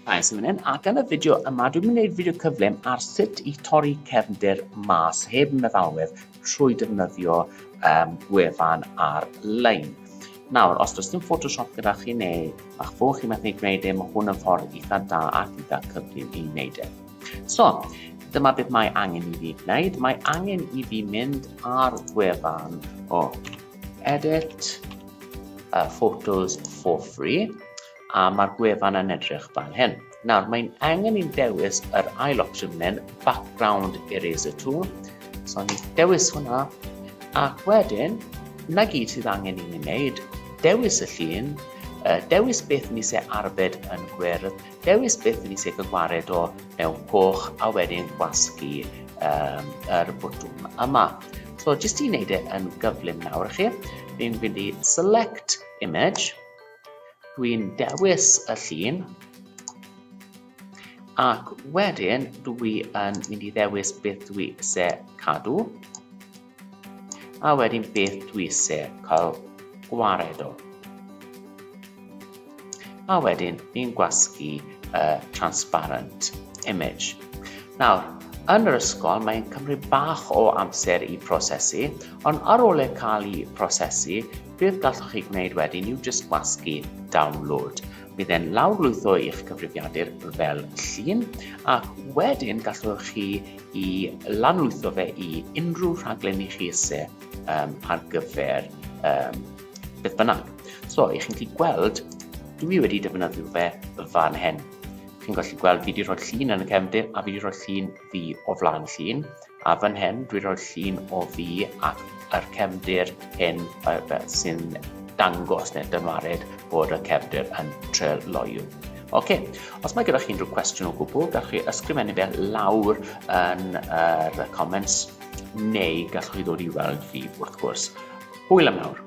Nice, yn mynd Ac yn y fideo yma, dwi'n mynd i wneud fideo cyflym ar sut i torri cefndir mas heb meddalwedd trwy defnyddio um, wefan ar-lein. Nawr, os does dim Photoshop gyda chi neu a'ch fo chi methu gwneud e, mae hwn yn ffordd eitha da ac eitha cyflym i wneud e. So, dyma beth mae angen i fi gwneud. Mae angen i fi mynd ar wefan o Edit uh, photos for free a mae'r gwefan yn edrych fan hyn. Nawr, mae'n angen i'n dewis yr ail opsiwn fan hyn, Background Eraser Tool. So, ni'n dewis hwnna, ac wedyn, na gyd sydd angen i ni wneud, dewis y llun, uh, dewis beth ni se arbed yn gwyrdd, Dewis beth ydy sef yn wared o mewn coch a wedyn gwasgu um, yr bwtwm yma. So jyst i wneud e yn gyflym nawr chi, fi'n fynd i select image, dwi'n dewis y llun, ac wedyn dwi yn mynd i ddewis beth dwi eisiau cadw, A wedyn beth dwi eisiau cael gwared o. A wedyn fi'n gwasgu y transparent image. Nawr, yn yr ysgol mae'n cymryd bach o amser i prosesu, ond ar ôl e cael ei prosesu, beth gallwch chi gwneud wedyn yw just gwasgu download. Bydd e'n lawrlwytho i'ch cyfrifiadur fel llun, ac wedyn gallwch chi i lanlwytho fe i unrhyw rhaglen i chi ise um, ar gyfer um, beth bynnag. So, i chi'n gallu gweld, dwi fi wedi defnyddio fe fan hyn. Chi'n gallu gweld fi wedi rhoi llun yn y cefndir a fi wedi rhoi llun fi o flaen llun. A fan hyn, dwi wedi rhoi llun o fi ac yr cefndir hyn sy'n dangos neu dymarid bod y cefndir yn treuloio. OK, os mae gyda chi unrhyw cwestiwn o gwbl, gallwch chi ysgrifennu fe lawr yn yr uh, comments, neu gallwch chi ddod i weld fi, wrth gwrs. Hwyl am nawr.